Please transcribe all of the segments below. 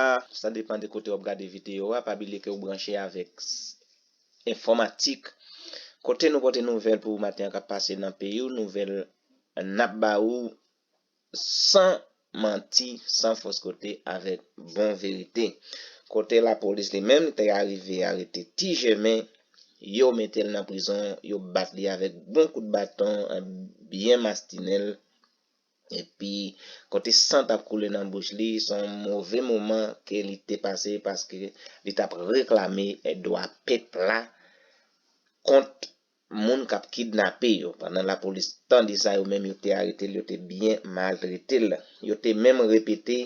a, sa depan de kote wap gade video a, pa bilye ke ou branche avek Enfomatik, kote nou pote nouvel pou ou maten an kap pase nan peyi ou, nouvel nap ba ou san manti, san fos kote avek bon verite. Kote la polis li menm li te arive arete ti jèmen, yo metel nan prizon, yo bat li avek bon kout baton, byen mastinel. Epi kote san tap koule nan bouch li, se yon move moman ke li te pase paske li tap reklame dwa pèp la kont moun kap kidnape yo. Pandan lapolis tande sa yo menm yo te arete l, yo te byen maltrete l. Yo te menm repete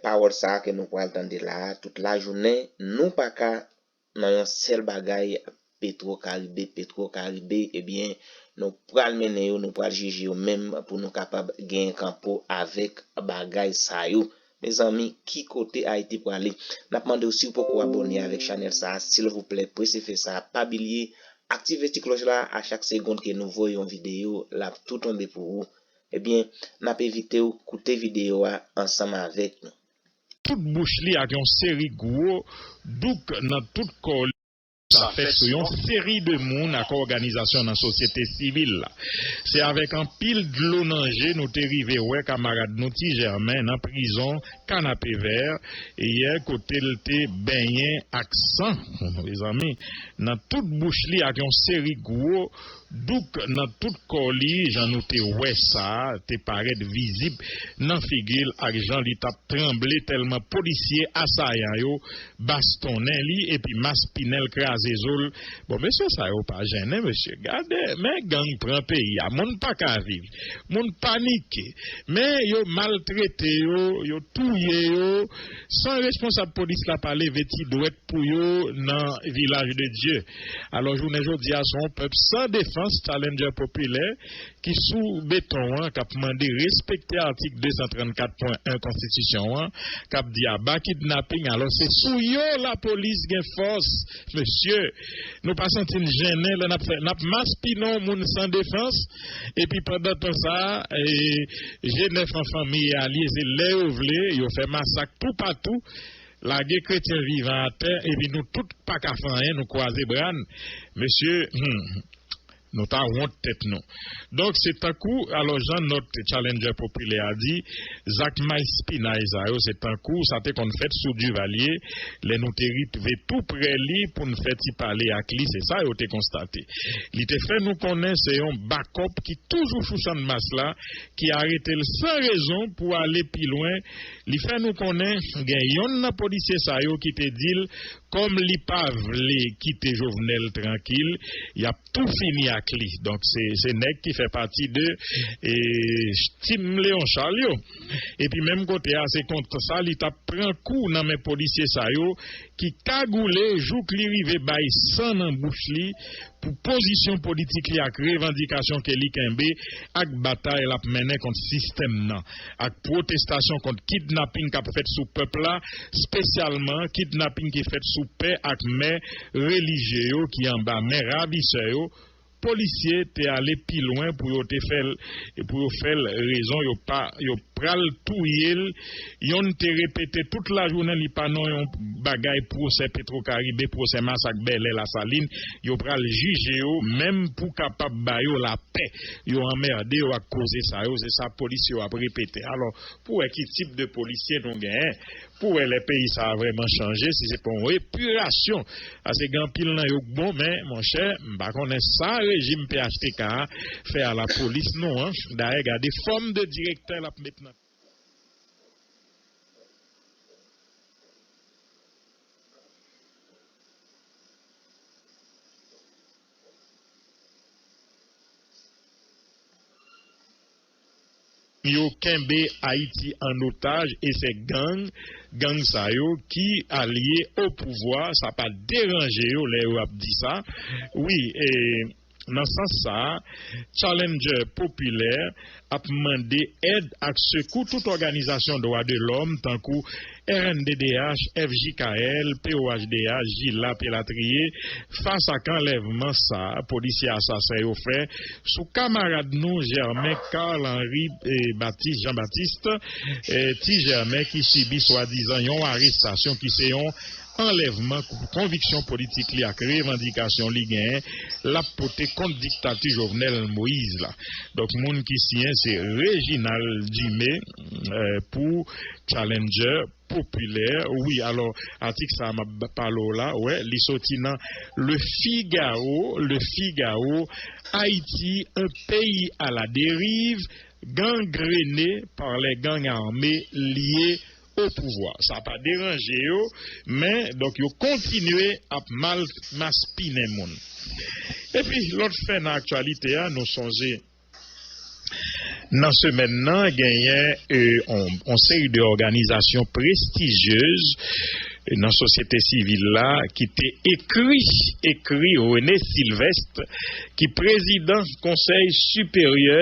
pawòl sa ke nou pral tande la a tout lajounen, nou paka nan yon sèl bagay petro karibe petro karibe ebyen nou pral mennen yo nou pral jije yo menm pou nou kapab genyen kanpo avèk bagay sa yo mezanmi ki kote ayiti prale nap mandew siw poko abòne avèk chanèl sa silvouplè prese fè sa pa bilye aktive ti klòch la a chak segond ke nou voye yon video lap tou tonbe pou ou ebyen nap evitew koute video a ansanm avèk nou. Tout bouch li ak yon seri gwo douk nan tout kò li. Sa fèt sou yon seri de moun ak òganizasyon nan sosyete sivil la. Se avèk anpil dlo nan je nou te rive wè kamarad nou Ti Jèmen nan prizon Kanapevè yè kote l te benyen ak san mezanmi nan tout bouch li ak yon seri gwo Douk nan tout kò li, jan nou te wè sa, te parèt vizib nan figi l ak jan li t ap tranble tèlman polisye asayan yo bastonnen li epi maspinen l kraze zo l. Bon, mesye sa yo pa jennen, mesye. Gade, men gang pran peyi a. Moun pa ka viv. Moun panike. Men yo maltrete yo, yo touye yo. San responsab polis la pa leve ti dwèt pou yo nan vilaj de Dye. Alò jounen jodi a son pèp san defans challenger popilè ki sou beton an kap mande respekte atik 234 pwen 1 konstitisyon an kap di aba kidnaping alò se sou yo lapolis gen fòs Mesye, nou pa santi n jennen lè n ap fè, n ap maspinon moun san defans, epi pandan tan sa a, je nèf an fanmi e alye se lè yo vle, yo fè masak toupatou, lage kretyen vivan atè, epi nou tout pa ka fè anyen, nou kwaze bra n. Mesye, hum! Nou ta wont tèt nou. Donk se tankou, alò jan nòt Challenger popilè a di, zak mayspinay sa yo se tankou sa te konn fèt sou Duvalier lè nou te ritve tou prè li pou n fè ti pale ak li se sa yo te konstate. Li te fè nou konnen se yon bakòp ki toujou sou chandmas la ki arete l san rezon pou ale pi lwen li fè nou konnen gen yonn nan polisye sa yo ki te di l Kòm li pa vle kite Jovenel trankil yap tou fini ak li donk se nèg ki fè pati de team Léon Charles yo epi menm kote a se konsa li tap pran kou nan men polisye sa yo ki kagoule jouk li rive bay san nan bouch li pou pozisyon politik li ak revandikasyon ke li kenbe ak batay lap mennen kont sistèm nan. ak pwotestasyon kont kidnaping k ap fèt sou pèp la, spesyalman kidnaping ki fèt sou pè ak mè relijye yo ki anba men ravisè yo, polisye te ale pi lwen pou yo te fè l pou yo fè l rezon yo pa yo pral touye l Yon te repete tout lajounen li pa non yon bagay pwosè Petrocaribe, pwosè masak Bèlè, Lasalin, yo pral jije yo menm pou kapab ba yo lapè. Yo anmerde yo ak koze sa yo, se sa polis yo ap repete. Alò, pou wè ki tip de polisye nou genyen, pou wè lè peyi sa a vrèman chanje, si se pa yon epirasyon. Pase gen anpil nan yo k bon, men, monchè, m pa konnen sa rejim phtk a fè a lapolis nou an. Dayè, gade fòm de direktè l ap met nan. yo kenbe Ayiti an otaj e se gang, gang sa yo ki alye o pouvwa sa pa deranje yo lè yo ap di sa wi e nan sans sa Challenger popilè ap mande èd ak sekou tout òganizasyon dwa de lòm tankou rnddh, fjkl, POHDH, Jilap elatriye fas ak anlèvman sa polisye asasen yo fè sou kamarad nou Germain Carl Henri Baptiste Jean Baptiste, Ti Jèmen, ki sibi swadizan yon arestasyon ki se yon anlèvman, konviksyon politik li ak revandikasyon li genyen l ap pote kont diktati Jovenel Moïse la. Donk moun ki siyen se Reginald Dumé pou Challenger popilè. Wi alò atik sa a m ap pale w la wè li soti nan Le Figaro, Le Figaro, Haïti, un pays à la dérive, gangrené par les gangs armés liés o pouvwa. Sa pa deranje yo men donk yo kontinye ap mal maspinen moun. Epi lòt fè nan aktyalite a nou sonje nan semèn nan genyen on seri de òganizasyon prestigyez nan sosyete sivil la ki te ekri ekri René Sylvestre ki prezidan konsèy siperyè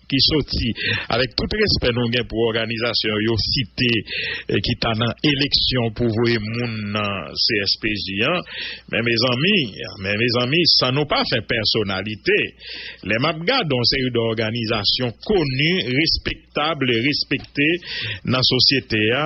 ki soti avèk tout respè nou gen pou òganizasyon yo site ki ta nan eleksyon pou voye moun nan CSPJ an, men mezanmi, men mezanmi san nou pa fè pèsonalite, lè map gad on seri d'òganizasyon koni, respektab, respekte nan sosyete a,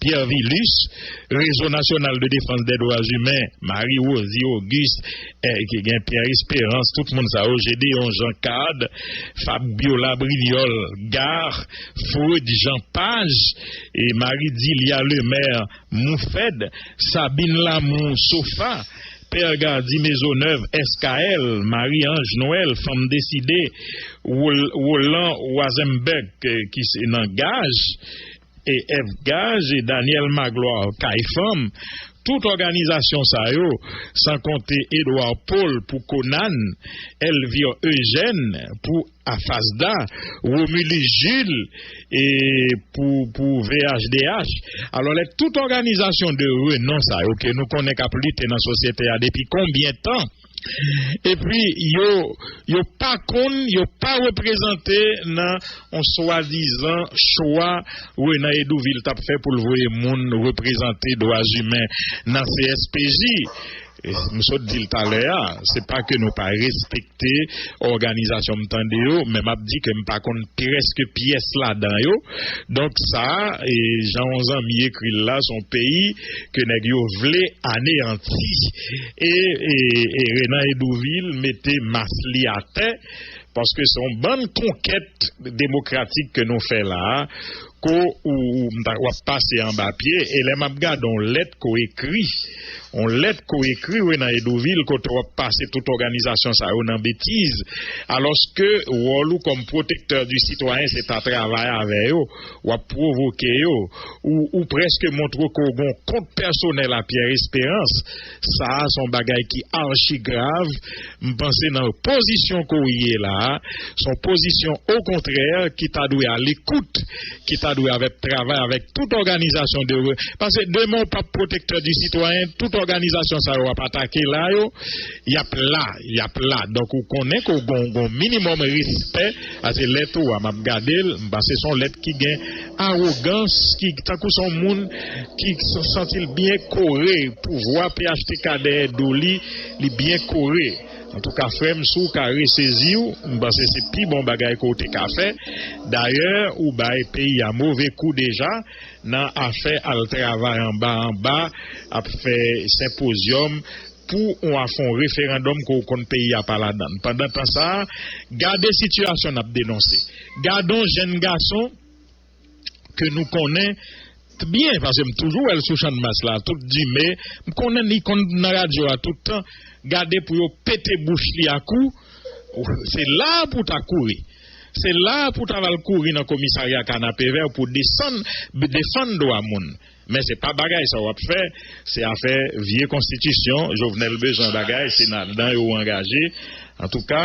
Pierre Vilus, Rezo Nasyonal de Defans dè Dwa Imen, Marie Rosy Auguste, ki gen Pierre Esperance, tout moun sa yo, Gédéon Jean Card, Fabiola Brignol, Gar, Freud Jean Paz, Marie Dilia Lemaire, Moufed, Sabine Lamour, Sofa, Père Gardy Maisonneuve, SKL, Marie Ange Noël, Fanm Deside, Roland Roisenberg, ki se nan Gaz, EF Gaz e Daniel Magloire Kay Fanm, tout òganizasyon sa yo, san konte Edouard Paul pou Conan, Elvire Eugène pou AFASDA, Romulus Jules e pou pou VHDH. Alò lè tout òganizasyon de renon sa yo ke nou konnen k ap lite nan sosyete a depi konbyen tan? epi yo yo pa konn, yo pa reprezante nan on swadizan chwa Renan Hédouville t ap fè pou l voye moun reprezante dwazimen nan CSPJ. M sot di l talè a, se pa ke nou pa respekte òganizasyon m tande yo, men m ap di ke m pa konn prèske pyès ladan yo. Donk sa, jan on zanmi ekri l la, s on peyi ke nèg yo vle aneyanti. E Renan Hédouville mete mas li atè, paske se yon bann konkèt demokratik ke nou fè la a, ke w ap pase anba pye. E lè m ap gade yon lèt ke w ekri, yon lèt ke w ekri Renan Hédouville, kote w ap pase tout òganizasyon sa yo nan betiz, alòske wòl ou kòm protecteur du citoyen se ta travay avè yo, w ap pwovoke yo, ou ou prèske montre ke w gen yon kont pèsonèl a Pierre Esperance, sa a se yon bagay ki archi grav, m panse nan pozisyon ke w ye la a, se yon pozisyon okontrè ki ta dwe a lekout, ki ta dwe avèk travay avèk tout òganizasyon de, paske demen w pap pwotektè di sitwayen, tout òganizasyon sa yo w ap atake la yo, y ap la, y ap la, donk ou konnen ke w gen yon minimòm respè. Pase lèt ou a m ap gade l m pase s on lèt ki gen awogans ki tankou s on moun ki santi l byen kore pouvwa phtk dèyè do li li byen kore antouka frè m si w ka resezi w m panse se pi bon bagay ke w te ka fè dayè ou bay peyi a move kou deja nan afè al travay anba anba ap fè senpozyòm pou ou a fon referandòm ke w konn peyi a pa ladann. Pandan tan sa a, gade sitiyasyon n ap denonse. Gadon jenn gason ke nou konnen t byen, paske m toujou wè l sou Channmas la tout dime, m konnen li konn nan radyo a tout tan, gade pou yo pete bouch li a kou, se la a pou w ta kouri. Se la a pou w ta va l kouri nan komisarya Kanapevè pou w desann, defann dwa moun. Men se pa bagay sa wap fè, se afè vye konstitisyon, Jovenel bezwen bagay se nadan yo ou angaje, antouka.